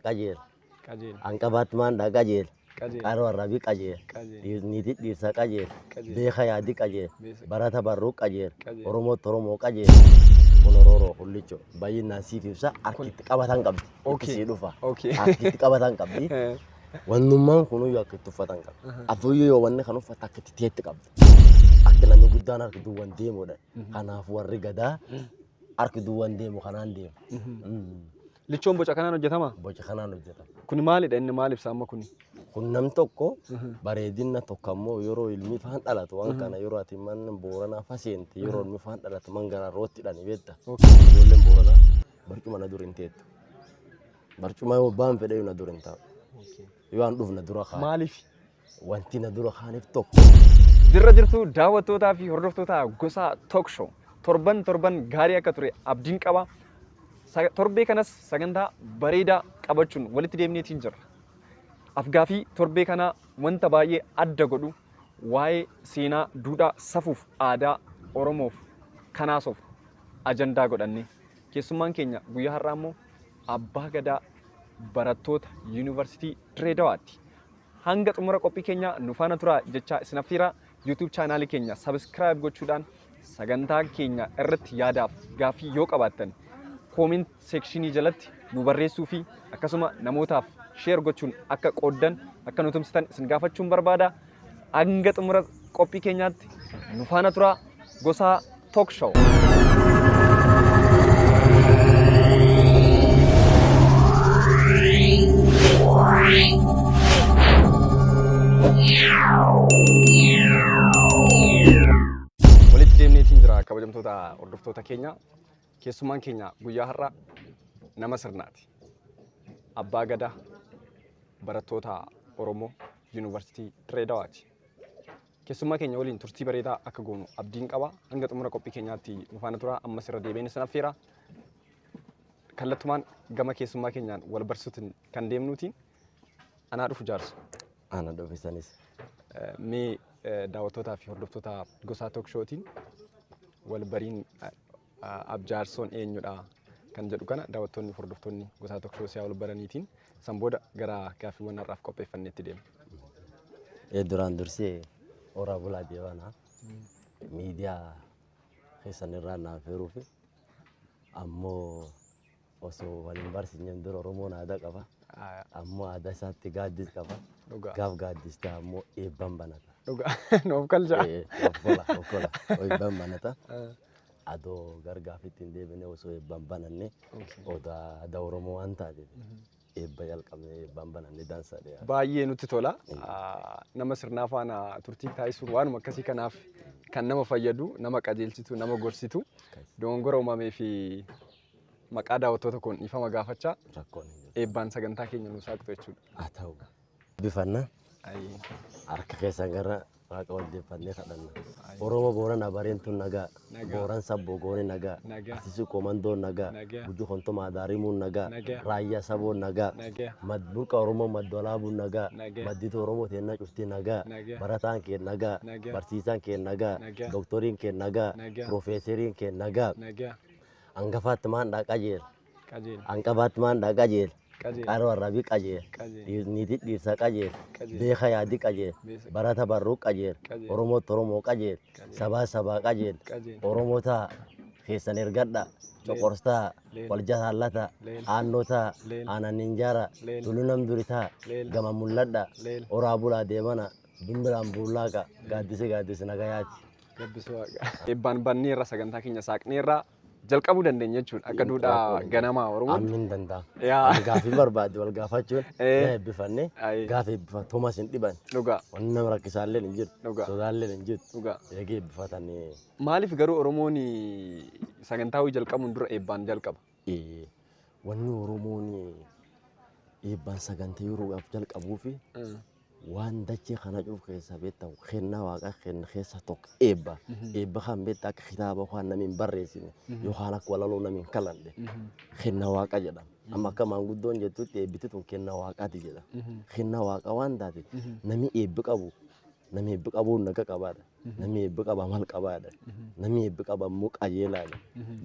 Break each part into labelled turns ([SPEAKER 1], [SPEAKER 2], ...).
[SPEAKER 1] qajeela. Hanqabaatti maandhaa qajeela. Qaroo arrabii qajeela. Dhiirniitii dhiirsa qajeela. Beeka yaadii qajeela. Barata barruu qajeela. Oromootti Oromoo qajeela. Kun Orooroo Hullichoo baay'inaan siif ibsa harkitti qabatan qabdi. itti Okay. sii dhufa Okay. akka itti qabatan qabdi Eh, wannummaan kunuyyuu akka itti uffatan qabdi aha. afuyyuu yoo wanni kan uffata akka itti teetti qabdi akka namni guddaan harki duwwan deemudha Mhm. kanaaf warri gadaa Mhm. harki duwwan deemu kanaan deemu Mhm. Mm. Lichoon boca
[SPEAKER 2] kanaan hojjetama. boca kanaan hojjetama
[SPEAKER 1] Kuni maalidha inni maal
[SPEAKER 2] ibsa amma kuni? kun nam tokko
[SPEAKER 1] Mhm. bareedina tokko ammoo yeroo ilmi faan dhalatu waan Mhm. kana yeroo ati man booranaa faseente yeroo ilmi faan dhalatu man garaa rootti dhani beekta Okay. ijoolleen booranaa Barcuma na dur hin teettu. Barcuma yoo abbaan fedhe na dur hin taa'u. Yoo an dhufna dura kaan. Maaliif?
[SPEAKER 2] Wanti na
[SPEAKER 1] dura kaaniif tokko. Jirra jirtu
[SPEAKER 2] daawwattootaa fi hordoftoota gosaa Talk Show. Torban torban gaarii akka ture abdiin qaba. Sa- Torbee kanas sagantaa bareedaa qabachuun walitti deemneetiin jirra. Afgaafii torbee kanaa wanta baay'ee adda godhu waa'ee seenaa, duudhaa, safuuf, aadaa Oromoof kanaasuuf ajandaa godhanne. Keessummaan keenya guyyaa har'aa immoo abbaa gadaa barattoota yuunivarsiitii Diree Dawaatti. Hanga xumura qophii keenya nu faana turaa jechaa isin affeera. YouTube chaanaalii keenya sabiskiraayib gochuudhaan sagantaa keenya irratti yaadaaf gaaffii yoo qabaattan kooment seekshinii jalatti nu barreessuu fi akkasuma namootaaf sheer gochuun akka qooddan akka nu tumsitan isin gaafachuun barbaada. hanga xumura qophii keenyaatti nu faana turaa gosaa Talk Show. walitti deemneetiin jira kabajamtoota hordoftoota keenya Keessummaan keenya guyyaa har'aa nama sirnaati. Abbaa Gadaa barattoota Oromoo Yuunivarsiitii Dirree Dawaati. Keessummaa keenya waliin turtii bareedaa akka goonu abdiin qaba. Hanga xumura qophii keenyaatti nu faana tura. Ammas irra deebiin isin affeera. Kallattumaan gama keessummaa keenyaan wal barsiisuutiin kan deemnuutiin Anaa dhufu jaarsa. Ana dhufisanis.
[SPEAKER 1] Eh, Mee
[SPEAKER 2] eh, daawwattootaa fi hordoftoota gosaa took shootiin wal bariin eh, eh, abjaarsoon eenyudha kan jedhu kana daawwattoonni fi hordoftoonni gosaa took shoo siyaa wal baraniitiin san booda gara gaaffiiwwan har'aaf qopheeffanneetti deema. Ee
[SPEAKER 1] duraan dursee horaa bulaa deebanaa miidiyaa keessan irraa naaf heeruufi ammoo osoo wal hin barsiisneen dura Oromoon aadaa qaba. Aayaa. Ammoo aadaa isaatti gaaddis qaba. Dhugaa. Gaaf gaaddis ta'a ammoo eebban banata. Dhugaa. Nuuf galchaa.
[SPEAKER 2] Eh, Okkola, okkola.
[SPEAKER 1] Eebban banata. Eh, Adoo gargaafitti hin deebine osoo eebban bananne okay. odaa aadaa Oromoo waan taateef. Mhm. Eebba jalqabnee eebbaan bananne dansa dhiyaata. baay'ee nutti tola.
[SPEAKER 2] Ah, Nama sirnaa faana turtii taasisuun waanuma akkasii kanaaf kan nama fayyadu, nama qajeelchitu, nama gorsitu, dogongora uumamee fi maqaa daawwattoota koon dhiifama gaafachaa Rakkoon hin jiru. eebbaan sagantaa keenya nuuf saaqtu jechuudha. Haa ta'u.
[SPEAKER 1] Eebbifanna. Ayi. Harka keessan gara waaqa wal deeffannee kadhanna. Ayi. Oromoo Boorana Bareentuun nagaa. Nagaa. Booran Sabboo Goone nagaa. Nagaa. Asisi Qoomandoon nagaa. Nagaa. Gujii Kontomaa Daarimuun nagaa. Nagaa. Raayyaa Saboon nagaa. Nagaa. Mad Burqa Oromoo Madda Walaabuun nagaa. Nagaa. Madditu Oromoo teennaa cuftii nagaa. Nagaa. Barataan kee nagaa. Nagaa. Barsiisaan kee nagaa. Nagaa. Dooktoriin kee nagaa. Nagaa. Piroofeeseriin kee nagaa. Nagaa. Hangafaatti maan dhaaqaa jeera. qajeela. Anqa Batman dha qajeela. Qajeela. Qaro Arrabi qajeela. Qajeela. Dhiir- Niiti dhiirsa qajeela. Qajeela. Beeka yaadi qajeela. Beesa. Barata barruu qajeela. Qajeela. Oromootti Oromoo qajeela. Qajeela. Sabaa sabaa qajeela. Qajeela. Oromoo ta'a. Keessan ergadha. Coqorsaa. Leela. Wal jataallata. Leela. Aannoo ta'a. Leela. Aanan injaara. Leela. Tullu nam duri ta'a. Leela. Gama mul'adha. Leela. Oraa bulaa deemana. Bimbiraan buullaaqa. Gaaddisi gaaddisi nagayaati. Gabbisuu waaqa.
[SPEAKER 2] Eebbaan banneerra sagantaa keenya saaqneerra. jalqabuu dandeenya jechuudha akka duudhaa ganamaa Oromoo. Ammin danda'a. Yaa.
[SPEAKER 1] Gaafii barbaadde wal gaafachuun Eh. na eebbifanne Ayi. gaafii eebbifan Toomas hin dhiban. Dhugaa Wanni nama rakkisaallee hin jirtu. Dhugaa. Sodaallee hin jirtu. dhugaa. Eegee eebbifatanii. Maaliif garuu
[SPEAKER 2] Oromoon sagantaa hojii jalqabuun dura eebbaan jalqaba? Eh,
[SPEAKER 1] Wanni Oromoon eebbaan sagantaa yeroo gaaf jalqabuu fi Waan dachee kana cuuf keessaa beektan kennaa waaqaa kenna keessaa tokko eebba. Eebba kan beekta akka kitaaba waan namni hin barreessine yookaan akka walaloo namni hin kalanne kenna waaqa jedhama. Amma akka maanguddoon jettutti eebbiti tun kenna waaqaati jedha. Kenna waaqa waan taate namni eebbi qabu namni eebbi qabu naga qabaadha. Namni eebbi qaba mal qabaadha. Namni eebbi qaba immoo qajeelaadha.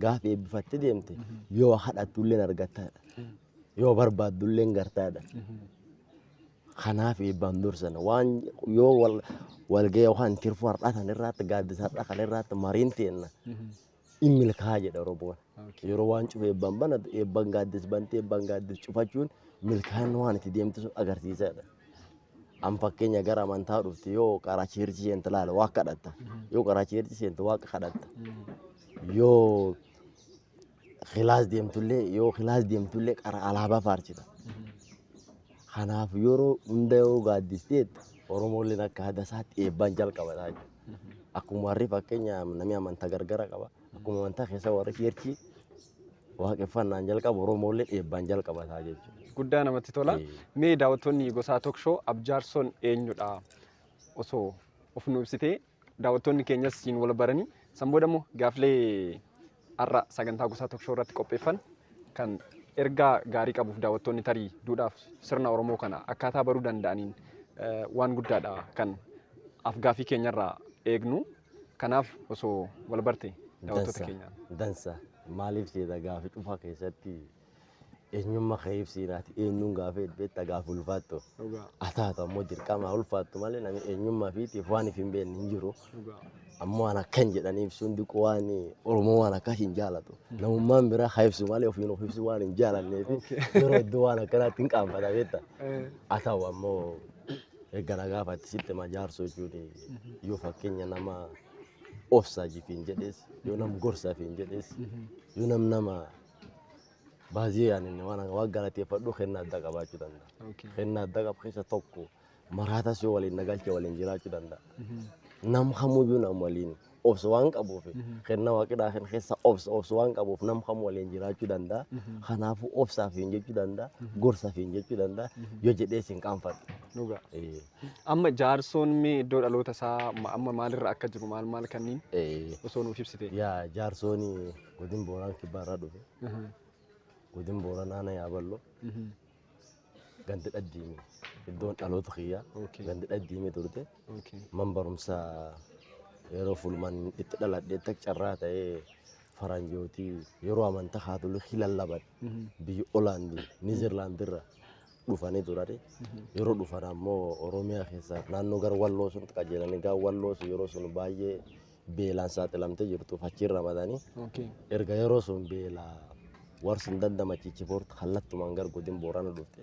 [SPEAKER 1] Gaafa eebbifattee deemte yoo kadhattu illee argattaadha. Yoo barbaaddu illee gartaadha. Kanaaf eebbaan dursana waan yoo wal walga'ii yookaan tirfuu har'aa kan irraatti gaaddisa har'aa kan irraatti mariin teenna in milkaa'aa jedha Oromoon. Yeroo waan cufa eebbaan banatu eebbaan gaaddis bantee eebbaan gaaddis cufachuun milkaa'ina waan itti deemtu sun agarsiisaadha. An fakkeenya gara amantaa dhufte yoo karaa cheerchii seente laala waaqa kadhatta. Yoo karaa cheerchii seente waaqa kadhatta. Yoo kilaas deemtullee yoo kilaas deemtullee qara alaabaa faarsita. Kanaaf yeroo hunda yoo gaaddisteet Oromoolleen akka aadaa isaatti eebbaan jalqabataa jechuudha. Akkuma warri fakkeenya namni amantaa gargara qaba. Akkuma amantaa keessa warri cheerchii waaqeffannaan jalqaba Oromoolleen eebbaan jalqabataa jechuudha. Guddaa namatti tola.
[SPEAKER 2] Ee. Mee daawwattoonni gosaa tookshow abjaarsoon eenyudha? Osoo of nu ibsitee daawwattoonni keenyas siin wal baranii san booda immoo gaaflee har'a sagantaa gosaa tokko irratti qopheeffan kan ergaa gaarii qabuuf daawwattoonni tarii duudhaaf sirna Oromoo kana akkaataa baruu danda'aniin waan guddaadha kan afgaafii keenyarraa eegnu. Kanaaf osoo wal barte daawwattoota keenyaan. Dansa
[SPEAKER 1] maaliif jeeta gaafi dhufa keessatti Eenyummaa kee ibsii naati eenyuun gaafee beekta gaafa ulfaattu. Dhugaa. Ataatu ammoo dirqamaa ulfaattu malee namni eenyummaa fiitiif waan if hin beekne hin jiru. Dhugaa. Ammoo waan akkan jedhan ibsuun diquu waan Oromoo waan akkas hin jaalatu. Namummaan biraa haa ibsu malee ofiin of ibsu waan hin jaalanneef yeroo iddoo waan akkanaatti hin qaanfata beekta. Eh, Haa ta'u ammoo erga na gaafatti sitti ma jaarsoo jechuun yoo fakkeenya nama obsaa jifiin jedhes yoo nam gorsafiin jedhes yoo nam nama Baay'ee yaanin waan waan galateeffadhu kenna adda qabaachuu danda'a. Okay. Kenna adda qabu keessa tokko maraatas yoo waliin nagalche waliin jiraachuu danda'a. Nam kamuyyuu nam waliin obsa waan qabuuf kenna waaqidhaa kan keessa obsa obsa waan qabuuf nam kam waliin jiraachuu danda'a. Kanaafuu obsaaf hin jechuu danda'a gorsaaf hin jechuu danda'a yoo jedhees hin qaanfadhu. Dhugaa. Eh, Amma
[SPEAKER 2] jaarsoon mee iddoo dhaloota isaa ma- amma maalirra akka jiru maal maal kanniin eh, osoo nuuf ibsite. Yaa jaarsooni
[SPEAKER 1] Godin Booraan Kibbaa irraa dhufe. Godin Booran Aanaa Yaaballoo. Gandi Dhaddiimi. Iddoon dhaloota kiyyaa. Okay. Gandi Dhaddiimi turte. Okay. Man barumsa yeroo fulman itti dhaladhe itti carraa ta'ee faranjooti yeroo amantaa kaatolikii lallaban biyya Olaandi Niizerlaandi irra dhufanii turani. Yeroo dhufan ammoo Oromiyaa keessaa naannoo gara Walloo sun qajeelanii gara Walloo sun yeroo sun baay'ee beelaan saaxilamtee jirtuuf achiin ramadanii Okay. erga yeroo sun beela warsi hin dandamachiichi foortu kallattumaan gara godin boorana dhufte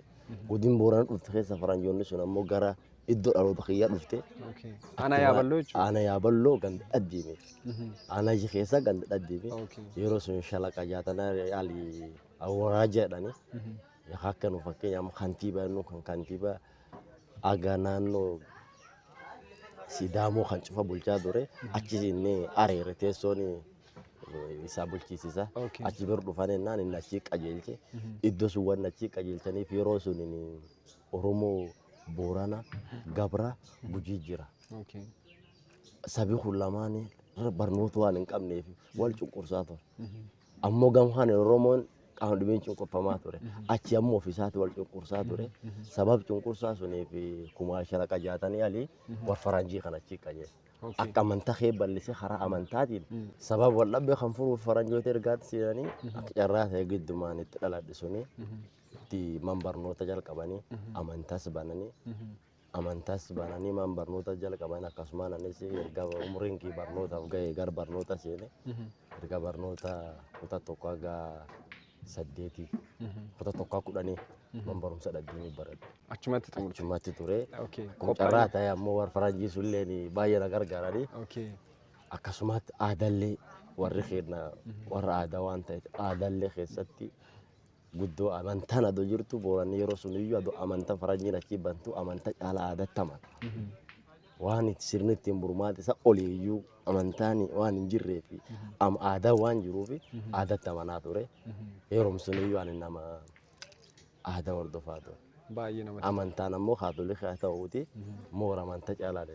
[SPEAKER 1] godin boorana dhufte keessa faranjoonni sun ammoo gara iddoo dhaloota kiyyaa dhufte Okay. Ana yaaballoo
[SPEAKER 2] jechuudha. aana yaaballoo ganda
[SPEAKER 1] dhaddiime Mhm. aana iji keessa ganda dhaddiime Okay. yeroo sun shalaqa jaatanaa yaali awwaraa jedhani Mhm. akka nu fakkeenya amma kantiibaa nu kan kantiibaa Aga naanno Sidaamoo kan cufa bulchaa ture achi inni areere teessoon isaa bulchiisisa. Okay. Achi bira dhufan ennaan inni achi qajeelche. Iddoo sun waan achi qajeelchaniif yeroo sun Oromoo Boorana Gabra Gujii jira. Okay. Sabi kun lamaan barnoota waan hin qabneef wal cunqursaa ture. Ammoo gamhaan Oromoon qaama dhibeen cunqurfamaa ture. Achi ammoo ofiisaatti wal cunqursaa ture. Sabab cunqursaa suniif kumaa shalaqa jaatanii alii war faranjii kan achi qajeele. Akka amantaa kee bal'isee karaa amantaatiin sabab wal dhabbee kan furuuf faranjoota ergaatti seenanii akka carraa ta'e giddumaan itti dhaladhe suni itti man barnoota jalqabanii amantaas bananii amantas bananii maan barnoota jalqaban akkasumaan anis erga umriin kii barnootaaf ga'e gar barnoota seene erga barnoota kutaa tokko haga saddeetii kutaa tokko kudhanii man barumsa dhaggeeni baradhe Achumatti xumurte. achumatti ture Okay. kun carraa ta'e ammoo warra faranjii sulleen baay'ee na gargaaranii Okay. akkasumatti aadallee warri keenya warra aadaa waan ta'eef aadallee keessatti Guddoo amantaan adoo jirtu booranni yeroo sun iyyuu adoo amanta faranjiin achii bantu amanta caalaa aadatti amana. Waan itti sirni ittiin burmaata isa olii iyyuu amantaan waan hin jirree fi am- aadaa waan jiruuf aadatti amanaa ture. Yeroo sun iyyuu ani nama aadaa hordofaa ture. Baay'ee namatti Amantaan ammoo kaatolikii haa ta'uuti moora amanta caalaa dha.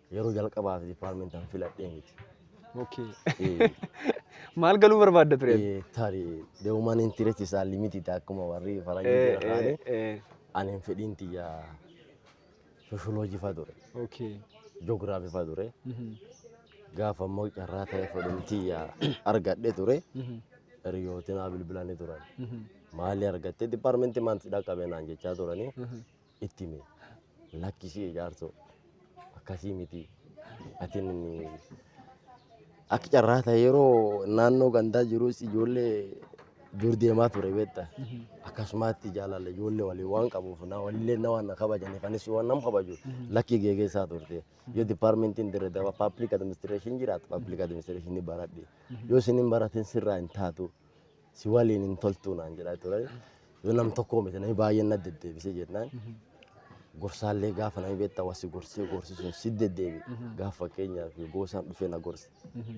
[SPEAKER 1] Yeroo jalqabaaf dipaarmentan filadhee miti.
[SPEAKER 2] Okay. Eh, Maal galuu barbaadda ture? eh, Tarii the
[SPEAKER 1] human interest is unlimited akkuma warri Eh, faranjii eh, jedhanii eh. ani hin fedhiin tiyya sosholoojii fa ture, Okay.
[SPEAKER 2] joogiraafii fa
[SPEAKER 1] ture. Mhm, Gaafa immoo carraa ta'e fedhiin tiyya argadhe ture. mhm, Hiriyootiin haa bilbilanii turan. mhm, Maali argattee dipaarmentii maanti dhaqqabee naan jechaa turanii. mhm. itti hime lakkisii jaarsoo akkasii miti atin akka carraa ta'e yeroo naannoo gandaa jirus ijoollee dur deemaa ture beekta akkasumaatti jaalala ijoollee waliin waan qabuuf na walillee na waan na kabajaniif anis waan nam kabaju lakkii geegeessaa turte yoo dipaarmentiin dirre daba paaplik adiministireeshin jiraatu paaplik adiministireeshin ni baradhe yoo isin hin baratin sirraa hin taatu si waliin hin toltuu naan jedhaa ture. Yoo nam tokkoo miti namni baay'een na deddeebisee jennaan gorsaallee gaafa namni beektaa wasi gorsee gorsisuun si deddeebi. Gaaf fakkeenyaaf goosaan dhufee na gorse.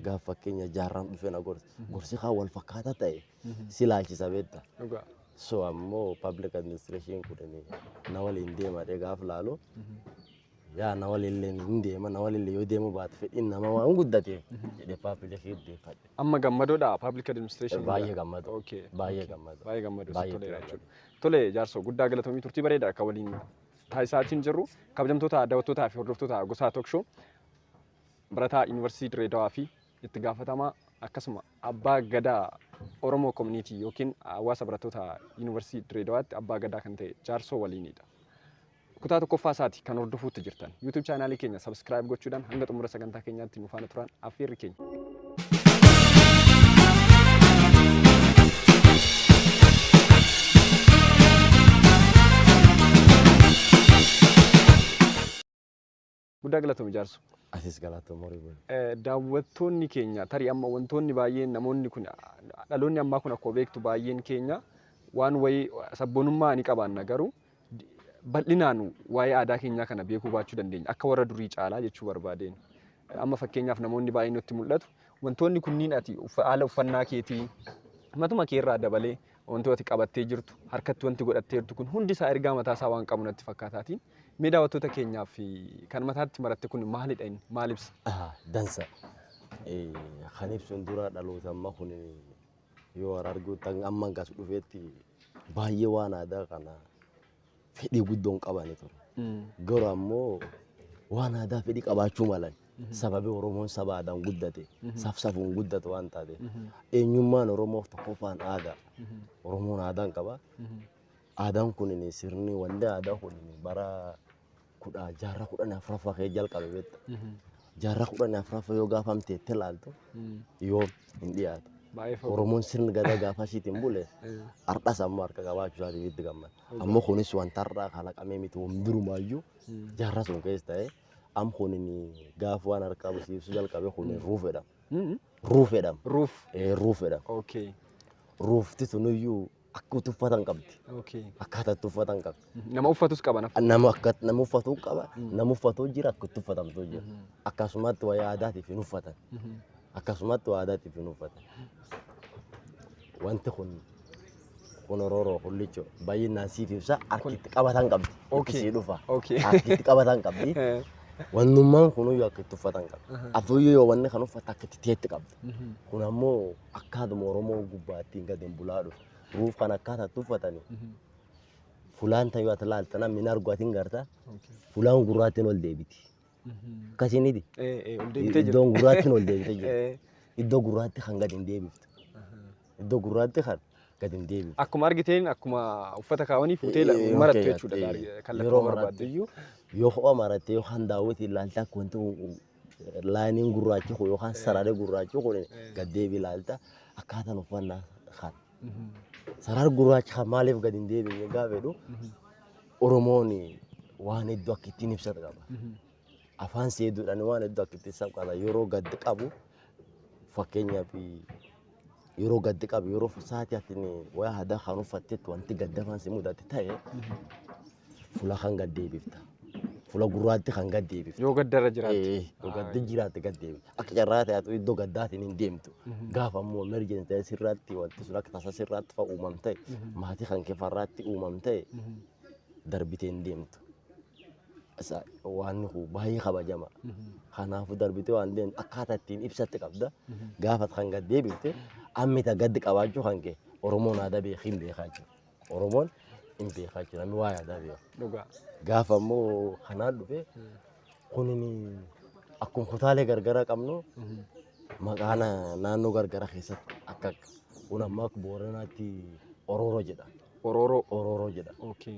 [SPEAKER 1] Gaaf fakkeenya jaarraan dhufee na gorse. Gorsi kaan wal fakkaataa ta'e si laalchisa beektaa. Dhugaa. So ammoo public administration kun na waliin deemadhee gaaf laalu Yaa na waliillee hin deema na waliillee yoo deemuu baate fedhiin nama waan guddate jedhee paappilee fi deeffadhe. Amma gammadoodha
[SPEAKER 2] public administration. Baay'ee gammadu. Okay.
[SPEAKER 1] Baay'ee okay. gammadu.
[SPEAKER 2] Baay'ee
[SPEAKER 1] gammadu. Baay'ee Baay'ee toleera
[SPEAKER 2] gammadu. jechuudha. Tole jaarsoo guddaa galatoomii turtii bareeda akka waliin taasisaatiin jirru kabajamtoota daawwattootaa fi hordoftoota gosaa tokshoo barataa yuunivarsiitii Direedawaa fi itti gaafatamaa akkasuma abbaa gadaa Oromoo koominiitii yookiin hawaasa barattoota yuunivarsiitii Direedawaatti abbaa gadaa kan ta'e jaarsoo waliinidha. Kutaa tokkoffaa isaati kan hordofuutti jirtan. YouTube chaanaalii keenya subscribe gochuudhaan hanga xumura sagantaa keenyaatti nu faana turaan affeerri keenya. Guddaa galatoomi jaarso. Atis galatoom horii
[SPEAKER 1] buli. Eh, Daawwattoonni
[SPEAKER 2] keenya tarii amma wantoonni baay'een namoonni kun dhaloonni ammaa kun akkuma beektu baay'een keenya waan wayii sabboonummaa ni qabaanna garuu di- bal'inaan waa'ee aadaa keenyaa kana beekuu baachuu dandeenya akka warra durii caalaa jechuu barbaadeen. Eh, Amma fakkeenyaaf namoonni baay'een nutti mul'atu wantoonni kunniin ati uffa- haala uffannaa keetii matuma kee irraa dabalee wanti ati qabattee jirtu, harkatti wanti godhattee jirtu kun hundi isaa ergaa mataa isaa waan qabu natti fakkaataatiin mee daawwattoota keenyaaf kan mataatti maratte kun maalidha inni maal ibsa? Dansa.
[SPEAKER 1] Kan ibsuun dura dhaloota amma kun yoo arguutti amma as dhufeetti baay'ee waan aadaa kana fedhii guddoo hin qabani ture. Garuu ammoo waan aadaa fedhii qabaachuu malan sababii Oromoon saba aadaan guddate safsafuun guddate waan taate eenyummaan Oromoof tokkoffaan aadaa Oromoon aadaan qaba. Aadaan kun sirni wanni aadaa kun bara kudha jaarraa kudhan afraffaa kee jalqabe beekta. Jaarraa kudhan afraffaa yoo gaafa amteettee laaltu yoo hin dhiyaatu. Baay'ee fagoo. Oromoon sirni gadaa gaafa asiitiin bule har'as ammoo harka qabaachuu isaatiif itti gammada. Ammoo kunis wanta har'aa kalaqamee miti waan durumaayyuu jaarraa sun keessa ta'ee am kunin gaafa waan harkaa busiibsu jalqabe kunin ruuf jedhama. Ruuf jedhama. Ruuf. Eh, Ruuf jedhama. Okay.
[SPEAKER 2] Ruufti
[SPEAKER 1] sunuyyuu akka itti uffatan qabdi. Okay. Akkaataa itti uffatan qabdi. Nama uffatus qaba nafa.
[SPEAKER 2] Nama akka nama uffatu
[SPEAKER 1] qaba. Nama uffatu jira akka itti uffatamtu jira. Akkasumatti wayyaa aadaatiif hin uffatan. Akkasumatti wayyaa aadaatiif hin uffatan. Wanti kun kun orooroo kullicho baay'inaan siif ibsa harki itti qabatan qabdi. Itti Okay. sii dhufa. Okay. Harki itti qabatan qabdi. Eh. Wannummaan kunuyyuu akka itti uffatan qabdi. Afuuyyuu yoo wanni kan uffata akka itti teetti qabdi. Kun ammoo akkaatuma Oromoon gubbaa ittiin gadi hin bulaa dhufe. Ruuf kan akkaataa itti uffatani. Fulaan tan yoo ati laalta namni hin argu ati hin garta. Fulaan gurraattiin ol deebiti. Akkasiiniti. Iddoon gurraattiin ol deebite jirti. Iddoo gurraatti kan gadi hin deebiftu. Iddoo gurraatti kan gadi hin deebiftu. Akkuma argiteen akkuma
[SPEAKER 2] uffata kaawanii fuutee la- Eh, marattu okay, jechuudha. okay. Yeroo Kallattii barbaadde.
[SPEAKER 1] marattiyyuu yoo kophaa marattee yoo kan daawwitiin laalta akka wanti kun- kun laayiniin gurraachi kun yookaan sararri gurraachi kun gad deebi ilaalta akkaataan uffannaa kan sararri gurraachi kan maaliif gad hin deebiin gaafa jedhu Oromoon waan hedduu akka ittiin ibsatu qaba. Afaan seeduudhaan waan hedduu akka ittiin ibsatu qaba. Yeroo gad qabu fakkeenyaaf yeroo gaddi qabu yeroo sa'aatii ati waya hadaa kan uffattetti wanti gaddafaan si mudate ta'e fula kan gad deebifta. Fula gurraatti kan gad deebifta. Yoo gaddarra jiraatte. Eh,
[SPEAKER 2] Yoo gaddi jiraatte
[SPEAKER 1] gad deebifta. Akka carraa ta'etu iddoo gaddaatiin hin deemtu. Gaafa immoo emergency ta'e sirraatti wanti sun akka tasa sirraatti fa'a uumamte maatii kan kefarraatti uumamte darbitee hin deemtu. waan kun baay'ee kabajama. Kanaafuu darbitee waan deemtu akkaataa ittiin ibsatti qabda. Gaafa kan gad deebifte ammita gaddi qabaachuu kan kee Oromoon aadaa beekee hin beekaa jiru. Oromoon hin beekaa jiru namni waa'ee aadaa beeku. Dhugaa. Gaafa immoo kanaan dhufe kunin akkuma kutaalee gargaraa qabnu maqaa na- naannoo gargaraa keessatti akka kun ammaa akka booranaatti orooroo jedha. Orooroo. Orooroo jedha. Okay.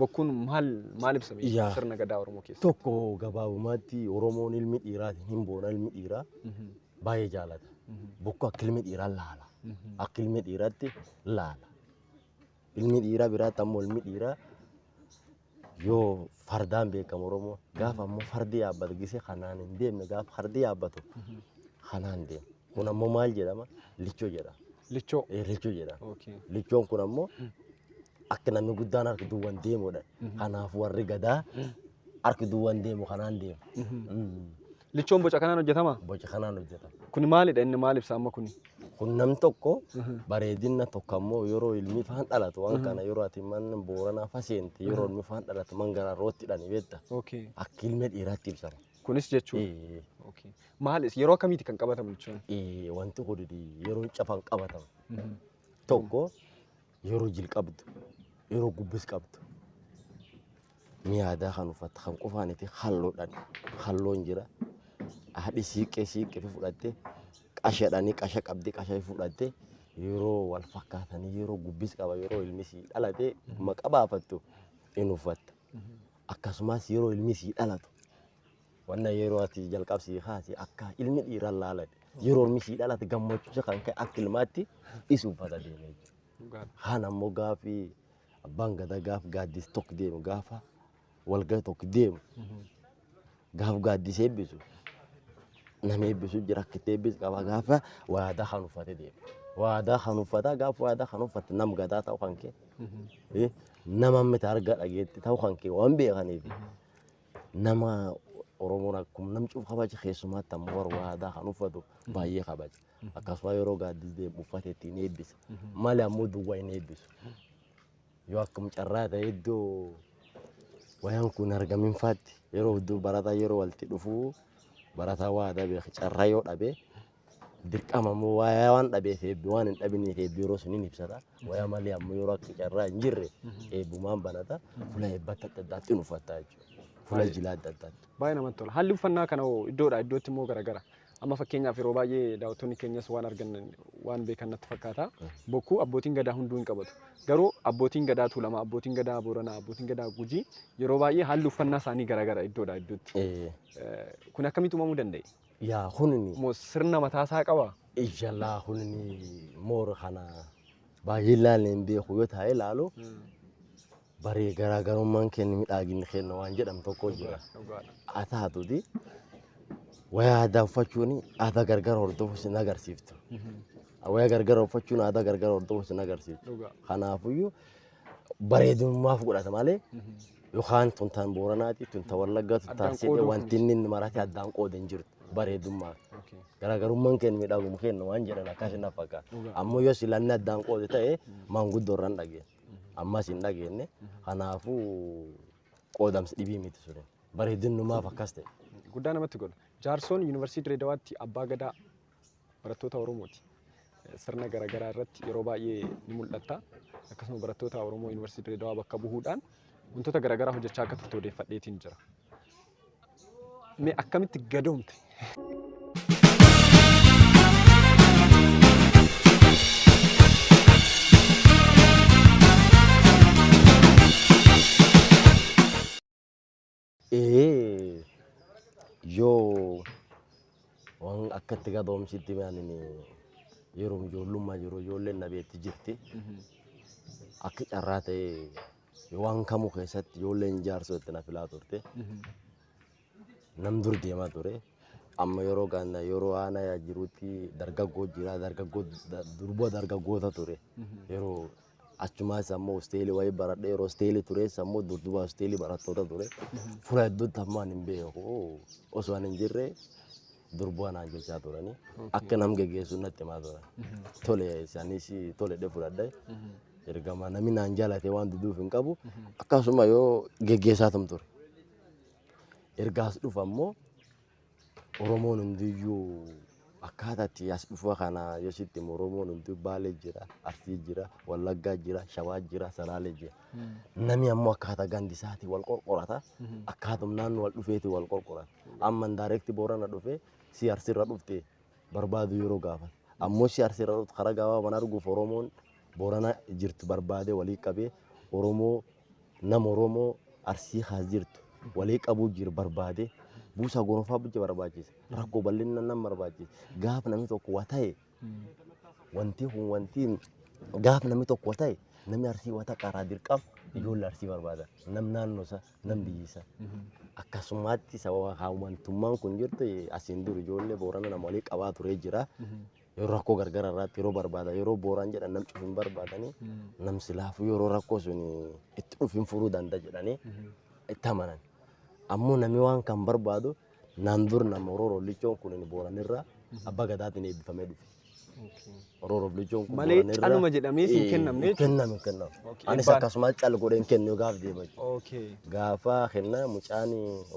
[SPEAKER 2] Bokkuun maal maal ibsa mee Yaa. sirna gadaa Oromoo keessa? Tokko gabaabumaatti
[SPEAKER 1] Oromoon ilmi dhiiraatiin hin boona ilmi dhiiraa Mhm, baay'ee jaalata. mhm, Bokkuu akka ilmi dhiiraa laala. mhm. Akka ilmi dhiiraatti laala. Ilmi dhiiraa biraatti ammoo ilmi dhiiraa yoo fardaan beekamu Oromoo gaafa ammoo fardi yaabbatu gisee kanaan hin deemne gaafa fardi yaabbatu Mhm. kanaan deema. Kun ammoo maal jedhama? Lichoo jedhama. Lichoo. Eh, Lichoo
[SPEAKER 2] jedhama.
[SPEAKER 1] Okay. Lichoon kun ammoo akka namni guddaan harki duwwan deemudha. Kanaaf warri gadaa harki duwwan deemu kanaan deemu. Mm. Lichoon boca
[SPEAKER 2] kanaan hojjetama. Boca kanaan hojjetama.
[SPEAKER 1] Kuni maalidha inni maal
[SPEAKER 2] ibsa amma kuni? Kun nam tokko
[SPEAKER 1] bareedina tokko ammoo yeroo ilmi faan dhalatu waan kana yeroo ati man booranaa faseente yeroo ilmi faan dhalatu man garaa rootti dhani beekta. Okay. Akka ilmi dhiiraatti ibsama. Kunis jechuudha. Eh,
[SPEAKER 2] Okay. Maal is- yeroo akkamiiti kan qabatamu lichoon? eh, Wanti kun
[SPEAKER 1] yeroo cafan qabatama. Tokko yeroo jil qabdu yeroo gubbis qabdu ni yaadaa kan uffatte kan qufaaniti halloodhaan halloon jira haadhi siiqqee siiqqee fi fudhatte qashadhaan qasha qabdi qasha fudhatte yeroo wal fakkaatanii yeroo gubbis qaba yeroo ilmi sii dhalate maqaa baafattu in uffatta akkasumas yeroo ilmi sii dhalatu Wanna yeroo ati jalqab sii kaase akka ilmi dhiiraa laalan yeroo ilmi sii dhalate gammachuusa kan ka'e akka ilmaatti is uffata deeme jechuudha. Kaan ammoo gaafi abbaan gadaa gaaf gaaddis tokko deemu gaafa walgaa tokko deemu gaaf gaaddis eebbisu nama eebbisu jira akka itti eebbis qaba gaafa waadaa kan uffate deemu. Waadaa kan uffata gaafa waadaa kan uffate nam gadaa ta'u kan kee nama miti arga dhageetti ta'u kan kee waan beekaniif nama Oromoon akkuma nam cuuf kabaja keessumaatti ammoo warra waadaa kan uffatu baay'ee kabaja. Akkasuma yeroo gaaddis deemu uffata ittiin eebbisa. Malee ammoo duwwaa hin eebbisu. Yoo akkam carraa ta'e iddoo wayaan kun argamin faatti yeroo hedduu barataa yeroo walitti dhufu barataa waadaa beeku carraa yoo dhabe dirqama immoo wayaa waan dhabeef eebbi waan hin dhabiniif eebbi yeroo sun hin ibsata. Wayaa malee ammoo yeroo akka carraa hin jirre eebbumaan banata. Fula eebba akka adda addaatti hin uffata jechuudha. Fula jilaa adda addaatti. Baay'ee namatti tola. Haalli
[SPEAKER 2] uffannaa kana hoo iddoodhaa iddootti immoo garagara. Amma fakkeenyaaf yeroo baay'ee daawwattoonni keenyas waan argan waan beekan natti fakkaata. Bokkuu abbootiin gadaa hunduu hin qabatu. Garuu abbootiin gadaa Tuulamaa, abbootiin gadaa Booranaa, abbootiin gadaa Gujii yeroo baay'ee haalli uffannaa isaanii garagara iddoodhaa iddootti. Eh, Eh, Kun akkamitti uumamuu danda'e? Yaa kunini.
[SPEAKER 1] Mo sirna mataa
[SPEAKER 2] isaa qabaa? Iyalaa kunini
[SPEAKER 1] moor kana baay'ee ilaalle hin beeku yoo taa'ee ilaalu baree garaagarummaan kenni midhaaginni kenna waan jedhamu tokko jira. Haa taatuti waya aadaa uffachuun aadaa gargar hordofu sin agarsiiftu. Waya gargar uffachuun aadaa gargar hordofu sin agarsiiftu. Kanaafuyyuu bareedummaaf godhata malee yookaan tun tan Booranaati, tun tan Wallaggaa, tun Addaan tan Sidee qooduu wanti inni inni maratee addaan qooda hin jirtu bareedummaa. Okay. Garaagarummaan keenya miidhaguma keenya waan jedhan akkas hin fakkaata. Dhugaa. Ammoo yoo silanni addaan qoode ta'e maanguddoo irra hin dhageenye. Ammas hin dhageenye. Kanaafuu qoodamsi dhibii miti suni. Bareedinnumaaf akkas ta'e. Guddaa namatti godha.
[SPEAKER 2] Jaarsoon Yuunivarsiitii Dirreedawaatti Abbaa Gadaa barattoota Oromooti. Sirna garaagaraa irratti yeroo baay'ee ni mul'atta. Akkasuma barattoota Oromoo Yuunivarsiitii Dirreedawaa bakka bu'uudhaan wantoota garaagaraa hojjechaa akka turte odeeffadheetiin jira. Mee akkamitti gadoomte?
[SPEAKER 1] Ee yoo waan akkatti gabaabumsitti maanin yeroo ijoollummaa jiru ijoolleen na beekti jirti. Akka carraa ta'ee waan kamuu keessatti ijoolleen jaarsoo itti na filaa turte. Nam dur deemaa ture. Amma yeroo gaanna yeroo aanaa yaa jirutti dargaggoo jira dargaggoo da- durba dargaggoota ture. Yeroo Achumaas ammoo hosteelii wayii baradhe yeroo hosteelii tures ammoo durduba hosteelii barattoota ture. Fuula hedduutti ammoo ani hin beeku osoo ani hin jirre durbuwa naan jechaa turani. Akka nam geggeessu natti himaa turan. Tole isaanis tole dhe fudhadhe. Ergama namni naan jaalate waan diduuf hin qabu. Akkasuma yoo geggeessaatum ture. Ergaas dhufa ammoo Oromoon hundiyyuu akkaataa itti as dhufa kana yoo sitti himu Oromoon hunduu Baalee jira, Arsii jira, Wallaggaa jira, Shawaa jira, Salaalee jira. Namni ammoo akkaataa gandi isaatii wal qorqorata. Akkaatum naannoo wal dhufeeti wal qorqorata. Amma indirect Boorana dhufee si Arsiirra dhufte barbaadu yeroo gaafan. Ammoo si arsi irra karaa gaawaa mana arguuf Oromoon Boorana jirtu barbaade walii qabee Oromoo nama Oromoo arsii kaas jirtu walii qabuu jiru barbaade buusaa gonofaa bulcha barbaachisa rakkoo bal'inna nan barbaachisa gaaf namni tokko waa ta'e wanti kun wanti gaaf namni tokko waa ta'e namni arsii wata qaraa dirqam ijoollee arsii barbaada nam naannoo isaa. nan biyyisa. Akkasumatti sababa hawwantummaan kun jirtu asiin dur ijoollee Boorana nama walii qabaa turee jira. Yeroo rakkoo gargara irratti yeroo barbaada yeroo Booraan jedhan nam cufu hin barbaadani. Nam silaafuu yeroo rakkoo sun itti dhufu hin furuu danda'a jedhanii itti amanan. Ammoo namni waan kan barbaadu Naan dur nama Orooroof lichoon kun inni Booranirraa abbaa gadaatiin eebbifamee dhufe. Orooroof lichoon kun Malee Booranirraa- caluma jedhamee
[SPEAKER 2] siin Eh, kennamne hin kennamu hin kennamu. Okay,
[SPEAKER 1] Anis eebbaan. akkasumas cal godhee hin kennu gaaf deema jechuudha. Okay. Gaafa kenna mucaan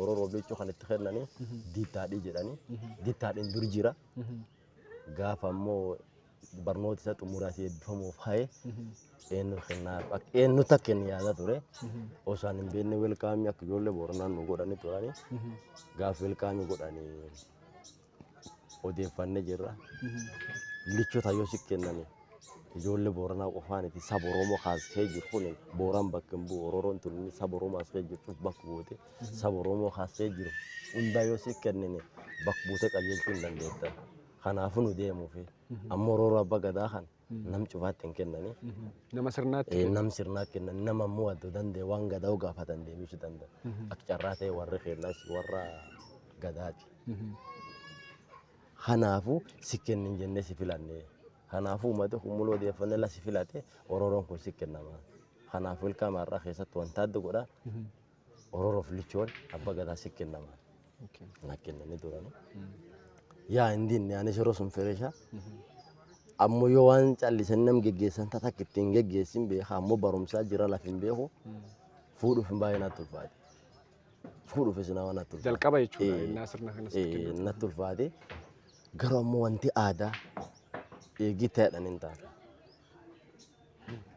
[SPEAKER 1] Orooroof lichoo kan itti kennanii diittaadhii jedhanii diittaadhiin dur jira. Gaafa ammoo barnoota isa xumuraa si eebbifamuuf haye eenyu kennaa eenyu takka kenni yaada ture. Osaan hin beekne welkaamii akka ijoollee booranaan nu godhani turani. Gaafa welkaamii godhani odeeffanne jirra. Lichoota yoo si kennani ijoollee booranaa qofaan itti saba Oromoo kaasee jiru kun booran bakka hin bu'u Ororoon tun saba Oromoo as kee jirtuuf bakka buute. saba Oromoo kaasee jiru hundaa yoo siif kennine bakka buutee qajeelchuu hin dandeettan. Kanaafuu nu deemuufi. Ammoo rooroo abbaa gadaa kan nam cufaatti hin kennani. Nama sirnaatti.
[SPEAKER 2] Eh, Nam sirnaa kennan
[SPEAKER 1] nama ammoo adda danda'e waan gadaa gaafatan deebisuu danda'a. Akka carraa ta'e warri keenyas warra gadaati. Kanaafuu si kennin jennee si filanne. Kanaafuu uummata humna odeeffannoo la si filate orooroon kun si kennama. Kanaafuu ilkaan har'aa keessatti wanta adda godha. Ororoof lichoon abba gadaa si kennama. Na kennanii turani. Yaa hin dinne anis yeroo sun fireesha. Ammoo yoo waan callisan nam geggeessan tata akka ittiin geggeessin beeka ammoo barumsaa jira laf hin beeku. Fuudhuuf hin baay'ee natti ulfaate. Fuudhuuf isin waan natti ulfaate. Jalqaba jechuudha Eh, innaa sirna
[SPEAKER 2] kanas eh, kennu. natti ulfaate.
[SPEAKER 1] Garuu ammoo wanti aadaa eegii ta'edhan hin taane.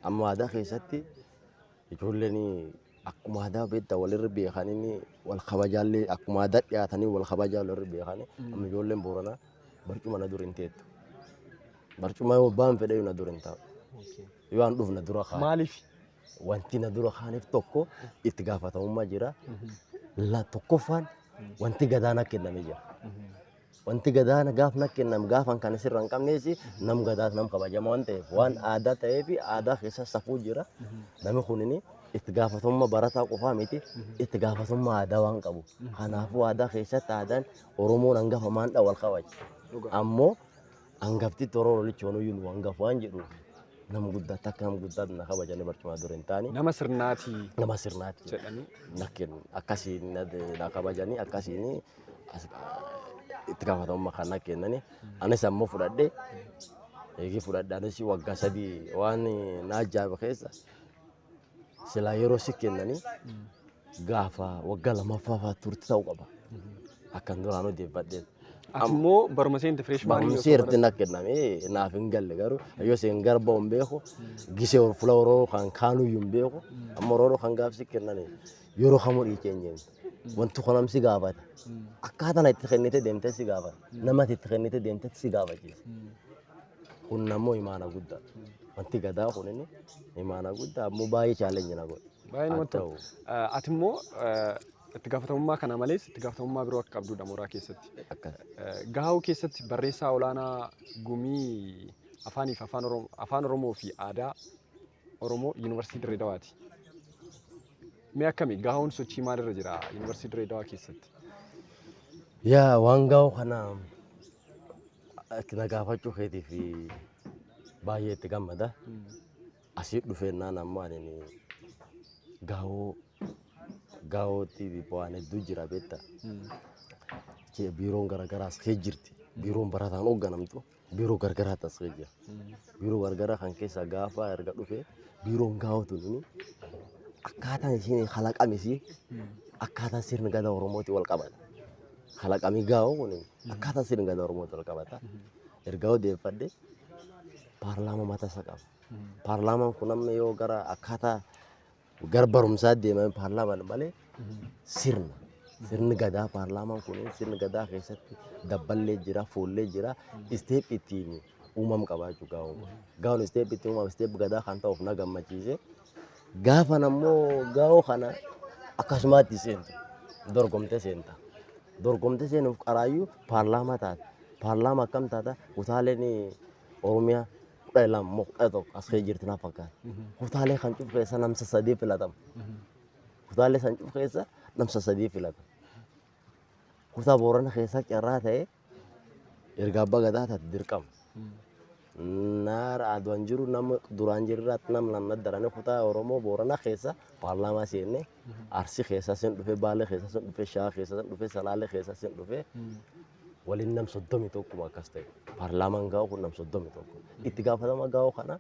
[SPEAKER 1] Amma aadaa keessatti Ijoolleen akkuma aadaa beektaa walirra beekanii wal kabajaallee akkuma aadaa dhiyaatanii wal kabajaa walirra beekanii amma ijoolleen booranaa barcuma na dura hin teettu. Barcuma yoo abbaan fedhe na dura hin taa'u. Yoo an dhufu na dura kaa'u. Maaliif?
[SPEAKER 2] Wanti na
[SPEAKER 1] dura kaa'aniif tokko itti gaafatamummaa jira. La tokkoffaan wanti gadaanaa kennamee jira. Wanti gadaana gaaf na kenname gaafan kan sirra hin qabnees nam gadaas nam kabajama waan ta'eef waan aadaa ta'ee fi aadaa keessa safuu jira. Nami kunin itti gaafatamummaa barataa qofaa miti itti gaafatamummaa aadaa waan qabu. Kanaafuu aadaa keessatti aadaan Oromoon hangafa maandha wal kabaja. Ammoo Hangafti toroo lolichoonuu nu hangaf waan jedhuuf nama guddaa takka nama guddaa na kabajanii barcumaa dura hin taane Nama sirnaatii
[SPEAKER 2] nama sirnaatti
[SPEAKER 1] jedhanii na kennu akkasiin na- na kabajanii akkasiin as- itti gaafatamummaa kan na kennani anis ammoo fudhadhe eegii fudhadhe anis waggaa sadii waan na ajaa'iba keessa silaa yeroo si kennanii gaafa waggaa lammaffaa fa'aa turte ta'uu qaba. Akkan duraan odeeffadheen. Ati immoo
[SPEAKER 2] baruma seente fireesh maanii Barumsi erti na kenname
[SPEAKER 1] naaf hin galle garuu yoo seen garba hin beeku gisee ol fula oroo kan kaanuu hin beeku amma oroo kan gaafsi kenname yeroo kamuu dhiicheenyeen wanti kun amsi gaafata akkaataa na itti kennite deemte si gaafata namatti itti kennite deemte si gaafachiisa. Kun ammoo imaana guddaa. Wanti gadaa kun inni imaana guddaa ammoo baay'ee chaalenji na godhe. Baay'ee Haa namatti ta'u.
[SPEAKER 2] tola. Ati immoo itti gaafatamummaa kana malees itti gaafatamummaa biroo akka qabdudha mooraa keessatti. Akka Gahaa'uu keessatti barreessaa olaanaa gumii afaaniif afaan Oromoo, afaan Oromoo fi aadaa Oromoo Yuunivarsiitii Dirree Dawaati. Mee akkami gaahoon sochii maalirra jira Yuunivarsiitii Dirree Dawaa keessatti?
[SPEAKER 1] Yaa waan gaa'oo kana itti na gaafachuu keetiif baay'ee itti gammada. Asii dhufeennaan ammoo ani gaa'oo gaa'ootti waan hedduu jira beekta. Biiroon garaagaraas kee jirti. Biiroon barataan hoogganamtu. biiroo gargaraa tasgee jira. Biiroo gargaraa kan keessaa gaafa erga dhufe biiroon gaafa tuni akkaataan isheen kalaqame ishee akkaataan sirna gadaa Oromootiin wal qabata. Kalaqamii gaafa kun akkaataan sirna gadaa Oromootiin wal qabata. Erga odeeffadhe paarlaamaa mataa isaa qaba. Paarlaamaan kun amma yoo gara akkaataa Gara barumsaa deemame paarlaamaan malee sirna. Sirni gadaa paarlaamaan kun sirni gadaa keessatti dabballee jira, foollee jira, isteep ittiin uumam qabaa jechuudha gaawwan kun. Gaawwan isteep ittiin uumam isteep gadaa kan ta'uuf na gammachiise. Gaafa ammoo gaawoo kana akkasumaatti seentu dorgomtee seenta. Dorgomtee seenuuf qaraayyuu paarlaamaa taata. Paarlaamaa akkam taata? Kutaaleen Oromiyaa kudha lama moo kudha tokko as kee jirti na fakkaata. Kutaalee kan cufu keessa namsa sadii filatama. Kutaalee san cufu keessa namsa sadii filatama. Kutaa Boorana keessaa carraa ta'ee erga abbaa gadaa taate dirqama. Naara aduan jiru nama duraan jirraatti nam lamna darane kutaa Oromoo Booranaa keessa paarlaamaa seenne Arsi keessa sin dhufe Baalee keessa sin dhufe Shawaa keessa sin dhufe Salaalee keessa sin dhufe waliin nam soddomi tokkuma akkas ta'e paarlaamaan gaa'u kun nam soddomi tokko itti gaafatama gaa'u kana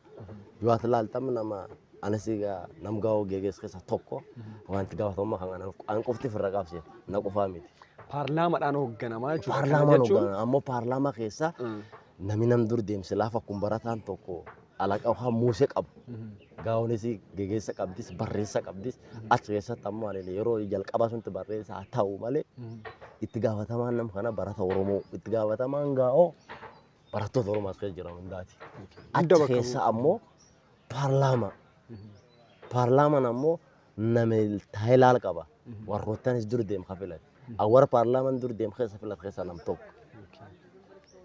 [SPEAKER 1] yoo ati laaltam nama anis egaa nam gaa'u geegees keessa tokko waan itti gaafatamummaa kan kana an qofti firra qaabse na qofaa miti. Paarlaamaadhaan
[SPEAKER 2] hoogganamaa jechuudha. Kana Paarlaamaan jechuun- hogganama ammoo
[SPEAKER 1] paarlaamaa keessa Mm. nami nam dur deemsi laafa kun barataan tokko alaqa waan muuse qabu gaa'onis gegeessa qabdis barreessa qabdis achi keessatti ammoo ani yeroo jalqabaa sunti barreessa haa ta'u malee itti gaafatamaan nama kana barata Oromoo itti gaafatamaan gaa'oo barattoota Oromoo as keessa jiran hundaati. Hunda Achi bakka keessa ammoo paarlaamaa paarlaamaan ammoo name taayilaal qaba warroottanis dur deem ka filat awwar paarlaaman dur deem keessa filat keessa nam tokko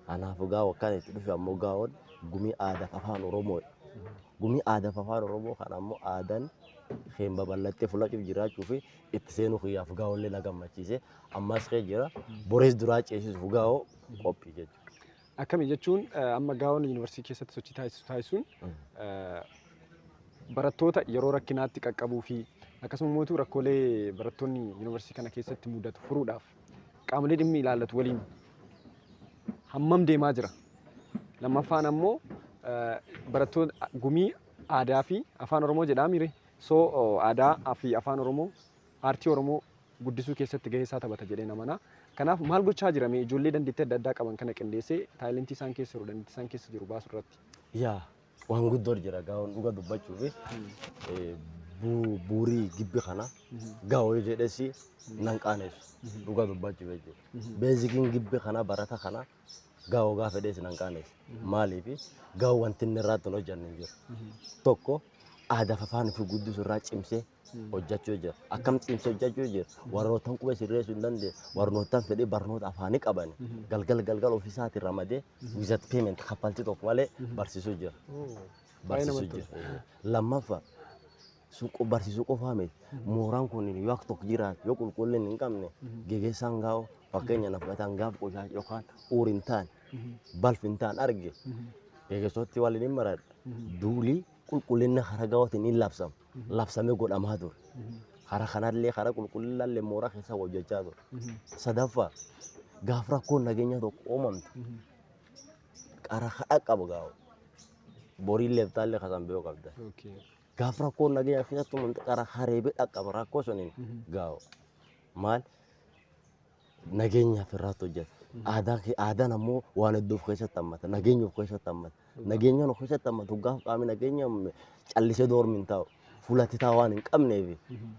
[SPEAKER 1] kanaaf gaa wakkaan itti dhufe ammoo gaa'oon gumii aadaa fi afaan oromoo gumii aadaa fi afaan oromoo kan ammoo aadaan keen babal'attee fulachuuf jiraachuu fi itti seenuu kiyyaaf gaa'ollee na gammachiise ammas kee jira borees duraa ceesisuuf gaa'oo qophii jechuudha. Akkami jechuun
[SPEAKER 2] eh, amma gaawon yuunivarsiitii keessatti sochii taasisu taasisuun eh, barattoota yeroo rakkinaatti qaqqabuu fi akkasuma mootuu rakkoolee barattoonni yuunivarsiitii kana keessatti mudatu furuudhaaf qaamolee dhimmi ilaallatu waliin hammam deemaa jira. Lammaffaan ammoo eh, barattoota gumii aadaa fi afaan oromoo jedhaamire soo oh, aadaa fi afaan oromoo aartii Oromoo guddisuu keessatti gahee isaa taphata jedheen amana. Kanaaf maal gochaa jira mee ijoollee dandeettii adda addaa qaban kana qindeessee taayilentii isaan keessa jiru dandeettii isaan keessa jiru baasu irratti? Yaa
[SPEAKER 1] waan guddoor jira gaa'oon dhuga dubbachuufi eh, bu- buurii gibbi kana gaa'oo jedhesi nan qaanessu dhuga dubbachuuf jechuudha. Beezikiin gibbi kana barata kana Gaa hogaa fedhee isin hanqaaneef. Maaliif gaa wanti inni irraa tun hojjanne hin jiru. Tokko aadaa afaan ofii guddisu irraa cimsee hojjachuu jira. Akkam cimsee hojjachuu jira. Warrootan qubee sirreessuu hin dandeenye. Warrootan fedhii barnoota afaanii qaban galgal galgal ofii isaatiin ramadee wizat payment kaffaltii tokko malee barsiisuu jira. Baay'ee Barsiisuu namatti jira. Lammaffaa sun qo- barsiisuu qofaa miti. Mooraan kun yoo akka tokko jiraate yoo qulqullina hin qabne geggeessaan gaa'oo fakkeenya na fudhataan gaaf qoshaa yookaan uur hin taane balf hin taane arge geggeessootti waliin hin maradha. Duulii qulqullina karaa gaa'ootiin hin labsamu. Labsamee godhamaa ture. Karaa kanallee karaa qulqullinaallee mooraa keessaa hojjechaa ture. Sadaffaa gaaf rakkoon nageenyaa tokko uumamte qara kadhaa qaba gaa'oo. Boriin leeftaallee kasan biyoo qabda. Gaaf rakkoon nageenya keessattuu manxaqara hareebee dhaqqaba rakkoo suniin gaa'u maal nageenyaaf irraatti hojjeta. Aadaa kee- aadaan ammoo waan hedduu of keessatti hammata nageenya of keessatti hammata nageenyaan of keessatti hammatu gaaf qaamni nageenya hamme callisee doormi hin taa'u fulatti taa'u waan hin qabneef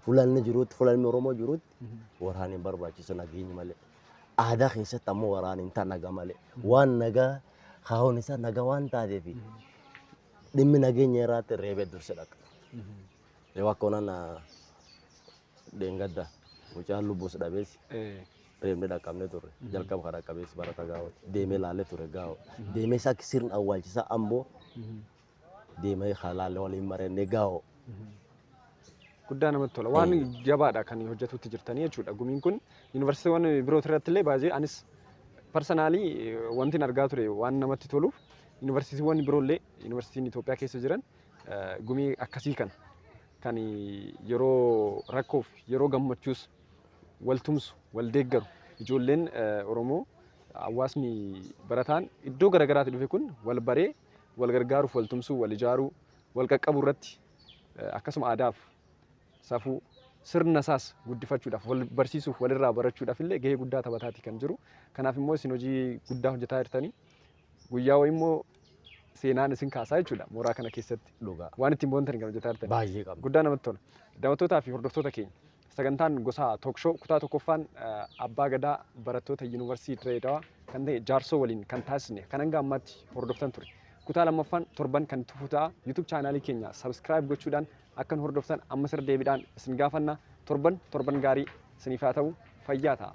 [SPEAKER 1] fulanni jirutti fulanni Oromoo jirutti waraana hin barbaachisu nageenyi malee. Aadaa keessatti ammoo waraana hin ta'a naga malee waan nagaa kaa'uun isaa naga waan taateef dhimmi nageenya irraatti reebee durse dhaqa. Yoo akka onaan dheengadda mucaan lubbuus dhabees reebni dhaqqabnee turre. Jalqaba kan dhaqqabees barata gaa'ooti. Deemee laalee ture gaa'oo. Deemee isaa sirna awwaalchisaa amboo deemee kan laalee waliin marannee gaa'oo. Guddaa
[SPEAKER 2] namatti tola. Waan jabaadha kan hojjetutti jirtanii jechuudha. Gumiin kun yuunivarsiitiiwwan biroo irratti illee baay'ee anis parsanaalii wanti argaa ture waan namatti toluuf Yuunivarsiitiiwwan biroo illee, yuunivarsiitiin Itoophiyaa keessa jiran gumii akkasii kana kan yeroo rakkoof yeroo gammachuus wal tumsu, wal deeggaru, ijoolleen Oromoo hawaasni barataan iddoo gara garaatii dhufe kun wal baree wal gargaaruuf wal tumsuu, wal ijaaruu, wal qaqqabuu irratti akkasuma aadaaf safuu sirna isaas guddifachuudhaaf wal barsiisuuf walirraa barachuudhaaf illee gahee guddaa taphataati kan jiru. Kanaaf immoo isin hojii guddaa hojjetaa jirtanii Guyyaa wayii immoo seenaan isin kaasaa jechuudha mooraa kana keessatti. Dhugaa. Waan ittiin boontan kan hojjetaa jirtan. Baay'ee qabna. Guddaa namatti tola. Daawwattootaa fi hordoftoota keenya sagantaan gosaa Talk Show kutaa tokkoffaan eh, Abbaa Gadaa barattoota Yuunivarsiitii Dirree Dawaa kan ta'e Jaarsoo waliin kan taasisne kan hanga ammaatti hordoftan ture. Kutaa lammaffaan torban kan itti fufu ta'a. YouTube chaanaalii keenya subscribe gochuudhaan akka nu hordoftan ammas irra deebiidhaan isin gaafanna. Torban torban gaarii isiniif haa ta'u fayyaa ta'a.